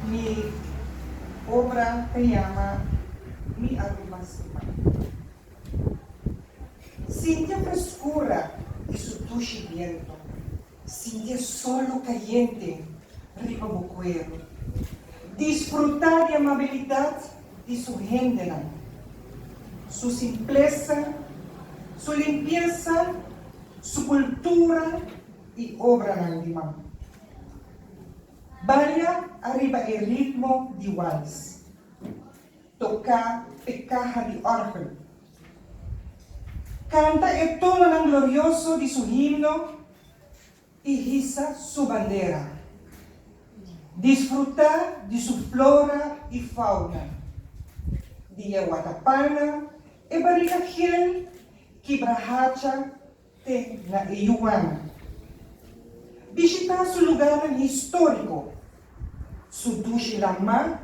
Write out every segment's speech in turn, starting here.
Mi obra ta yama Mi Aruba Sima. Sintié freskura di su tushi bientu. Sintié solu kayente riba bo kueru. Disfrutá di amabilidat di su hendenan. Su simplesa, su limpiesa, su kultura i obranan di man. Baria ariba e ritmo di wals. Toká e kaha di òrgel. Kanta e tononan glorioso di su himno i hisa su bandera. Disfrutá di su flora i fauna. Di e wata pana, e barika hiel ki brahacha. te na e yuan. Bishitá su lugarnan históriko, su dushi lamá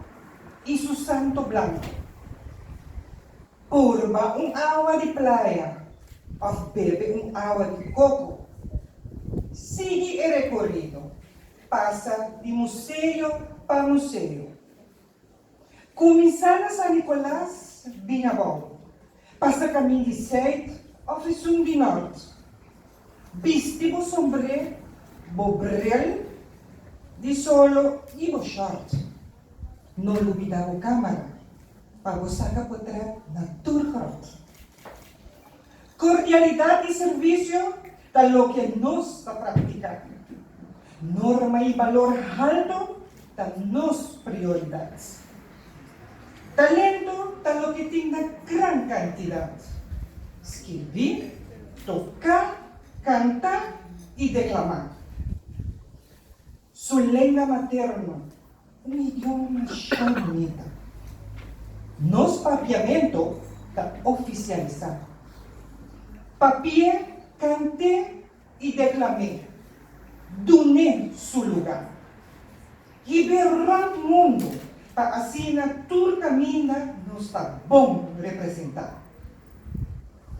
i su santo blanku. Purba un awa di playa òf bebe un awa di koko. Sigui e rekorido, pasa di museo pa museo, Kuminsá na San Nikolas bin abou, pasa kamin di Sèit òf esun di Nòrt. Bisti bo sombré, bo bril di solo i bo shòrt. No lubidá bo kámara pa bo saka potret na tur gròt. Kordialidat i servisio ta loke nos ta praktiká. Norma i balor haltu ta nos prioridat. Talentu ta loke tin na gran kantidat. Skirbí, toká, kantá i deklamá su lenga materno. Un idioma sho bunita. Nos papiamento ta oficialisa. Papie cante y declame dune su luga. Hibe rond mundo pa asina tur caminda nos ta bon representa.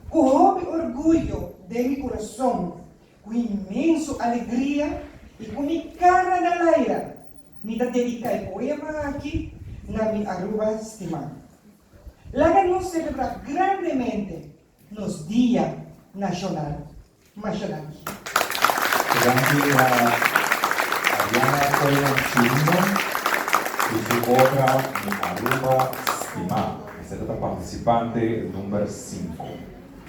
Cu hopi orguyo den mi curason, cu inmenso alegria y cu mi cara na laira Mi ta dedica e poema aki na mi Aruba stima. Laga nos celebra grandemente nos Dia Nacional Mashanaki. Granti na Ariana Coyo Chirino cu su obra Mi Aruba stima. Esaki ta participante number cinco.